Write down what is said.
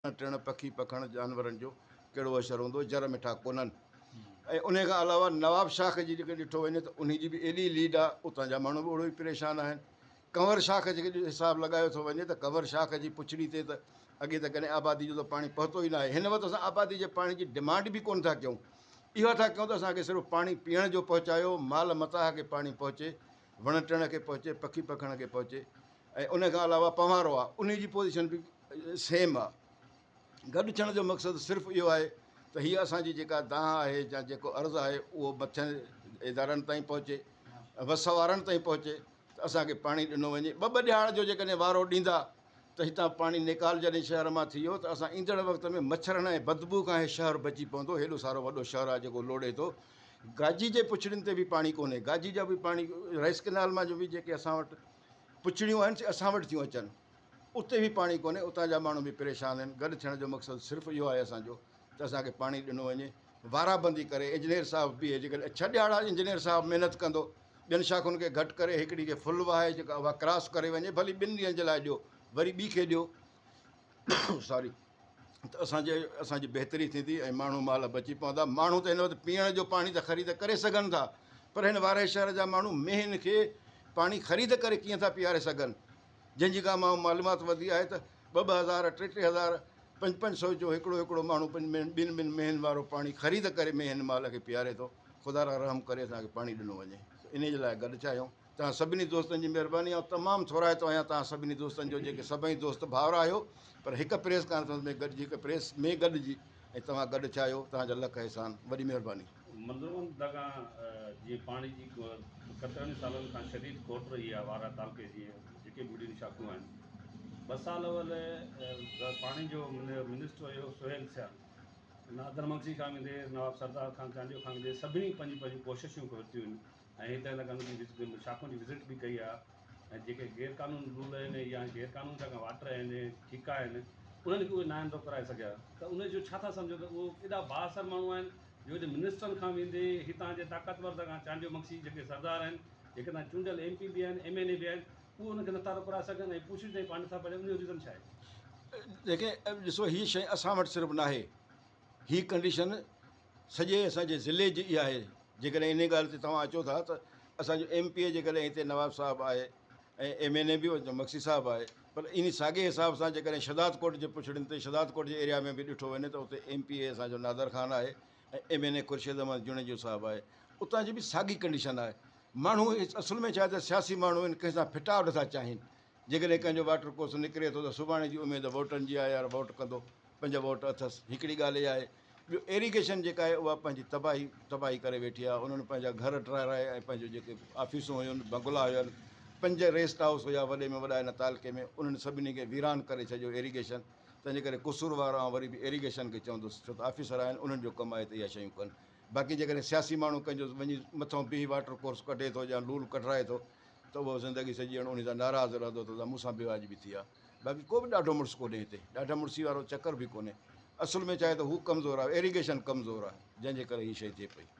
ٽڻ، پکي، پکڻ جانورن جو ڪهڙو حشر هوندو، جر مٺا ڪونهن ۽ انهي کان علاوه نواب شاخ جي جيڪڏهن ڏٺو وڃي ته انهي جي به ايڏي ليڊ آ اتان جا ماڻهو به اوڙو ئي پريشان آهن. ڪنور شاخ جي جيڪڏهن حساب لڳايو ٿو وڃي ته ڪنور شاخ جي پڇڙي تي ته اڳي ته ڪڏهن آبادي جو ته پاڻي پهتو ئي ناهي، هن وقت اسان آبادي جي پاڻي جي ڊمانڊ به ڪونه ٿا ڪيون، اها ٿا ڪيون ته اسان کي صرف پاڻي پيئڻ جو پهچايو، مال متاع کي پاڻي پهچي، وڻ ٽڻ کي پهچي، پکي پکڻ کي پهچي ۽ انهي کان علاوه پنوارو آ انهي جي پوزيشن به سيم آ. گڏ ٿيڻ جو مقصد صرف اهو آهي ته هيء اسان جي جيڪا دانهن آهي يا جيڪو عرض آهي اهو مٿين ادارن تائين پهچي، وس وارن تائين پهچي ته اسان کي پاڻي ڏنو وڃي. ٻه ٻه ڏهاڙ جو جيڪڏهن وارو ڏيندا ته هتان پاڻي نيڪال جڏهن شهر مان ٿي ويو ته اسان ايندڙ وقت ۾ مڇرن ۽ بدبوء کان هي شهر بچي پوندو. هيڏو سارو وڏو شهر آهي جيڪو لوڙهي ٿو. گاجي جي پڇڙين تي به پاڻي ڪونهي. گاجي جا به پاڻي رائيس ڪئنال مان جو به جيڪي اسان وٽ پڇڙيون آهن سي اسان وٽ ٿيون اچن. اتي به پاڻي ڪونهي، اتان جا ماڻهو به پريشان آهن، گڏ ٿيڻ جو مقصد صرف اهو آهي اسان جو ته اسان کي پاڻي ڏنو وڃي، وارا بندي ڪري انجنيئر صاحب بيهي جيڪڏهن ڇهه ڏهاڙا انجنيئر صاحب محنت ڪندو ٻين شاخن کي گهٽ ڪري هڪڙي کي فل وهائي جيڪا اها ڪراس ڪري وڃي ڀلي ٻن ڏينهن جي لاء ڏيو وري ٻي کي ڏيو ساري ته اسان جي اسان جي بهتري ٿيندي ۽ ماڻهو مال بچي پوندا ماڻهو ته هن وقت پيئڻ جو پاڻي ته خريد ڪري سگهن ٿا پر هن وارهي شهر جا ماڻهو مينهن کي پاڻي خريد ڪري ڪيئن ٿا پيئاري سگهن جنهن جي ڪا مان معلومات وڌي آهي ته ٻه ٻه هزار، ٽي ٽي هزار، پنج پنج سئو جو هڪڙو هڪڙو ماڻهو پنج مين ٻن ٻن مينهن وارو پاڻي خريد ڪري مينهن مال کي پياري ٿو. خدا را رحم ڪري اسان کي پاڻي ڏنو وڃي. انهي جي لاء گڏ چاهيون. توهان سڀني دوستن جي مهرباني آئون تمام ٿورائتو آهيان توهان سڀني دوستن جو جيڪي سڀئي دوست ڀائر آهيو پر هڪ پريس ڪانفرنس ۾ گڏجي هڪ پريس ۾ گڏجي ۽ توهان گڏ چاهيو توهان جا لک احسان. وڏي مهرباني. مندرون دگان جيئن پاڻي جي ڪترن ئي سالن کان شديد کوٽ رهي آهي وارا تعلقي جي جيڪي به وڏين شاخون آهن ٻه سال اول پاڻي جو منسٽر هيو سهيل سيال نادر مگسي کان ويندي نواب سردار خان چانڊيو کان ويندي سڀني پنهنجون پنهنجون ڪوششون ورتيون ۽ هتي لڳن جي شاخن جي وزٽ به ڪئي آهي ۽ جيڪي غير قانوني رول آهن يا غير قانوني جيڪا واٽر آهن ٺيڪا آهن انهن کي اهي ناهن ٿو ڪرائي سگهيا ته ان جو ڇا ٿا سمجهن ته اهو ايڏا بااثر ماڻهو آهن جو اڄ منسٽرن کان ويندي هتان جي طاقتور سگا چانڊيو مگسي جيڪي سردار آهن جيڪي تان چونڊيل ايم پي به آهن ايم اين اي به آهن اهي ان کي نٿا روڪرائي سگهن ۽ پوڇي تائين پاڻ نٿا پڙهن ان جو ريزن ڇا آهي؟ جيڪي ڏسو هي شيء اسان وٽ صرف ناهي هي ڪنڊيشن سڄي اسان جي ضلعي جي اها آهي جيڪڏهن انهي ڳالهه تي توهان اچو ٿا ته اسان جو ايم پي اي جيڪڏهن هتي نواب صاحب آهي ۽ ايم اين اي به مگسي صاحب آهي پر انهي ساڳي حساب سان جيڪڏهن شهداد ڪوٽ جي پڇڙين تي شهداد ڪوٽ جي ايريا ۾ به ڏٺو وڃي ته اتي ايم پي اي اسان جو نادر خان آهي ۽ M N A Khurshid Ahmed Junejo صاحب آهي اتان جي به ساڳي ڪنڊيشن آهي ماڻهو اصل ۾ ڇا آهي ته سياسي ماڻهو آهن ڪنهن سان ڦٽاء نٿا چاهين جيڪڏهن ڪنهن جو واٽر ڪورس نڪري ٿو ته سڀاڻي جي اميد ووٽرن جي آهي يار ووٽ ڪندو پنهنجا ووٽ اٿس هڪڙي ڳالهه اها آهي ٻيو ايريگيشن جيڪا آهي اها پنهنجي تباهي تباهي ڪري ويٺي آهي انهن پنهنجا گهر ٽرائي رائي ۽ پنهنجو جيڪي آفيسون هيون بنگلا هيون پنج ريسٽ هائوس هيا وڏي ۾ وڏا هن تعلقي ۾ انهن سڀني کي ويران ڪري ڇڏيو ايريگيشن تنهنجي ڪري قصوروار آئون وري به ايريگيشن کي چوندس ڇو ته آفيسر آهن انهن جو ڪم آهي ته اها شيون ڪن باقي جيڪڏهن سياسي ماڻهو ڪنهنجو وڃي مٿو بيهي واٽر ڪورس ڪڍي ٿو يا لول ڪڍرائي ٿو ته اهو زندگي سڄي ڄڻ انهي سان ناراض رهندو ته مون سان بي واجبي ٿي آهي. باقي ڪو به ڏاڍو مڙس ڪونهي هتي. ڏاڍا مڙسي وارو چڪر به ڪونهي. اصل ۾ ڇا آهي ته هو ڪمزور آهي. ايريگيشن ڪمزور آهي. جنهن جي ڪري هي شيء ٿئي پئي.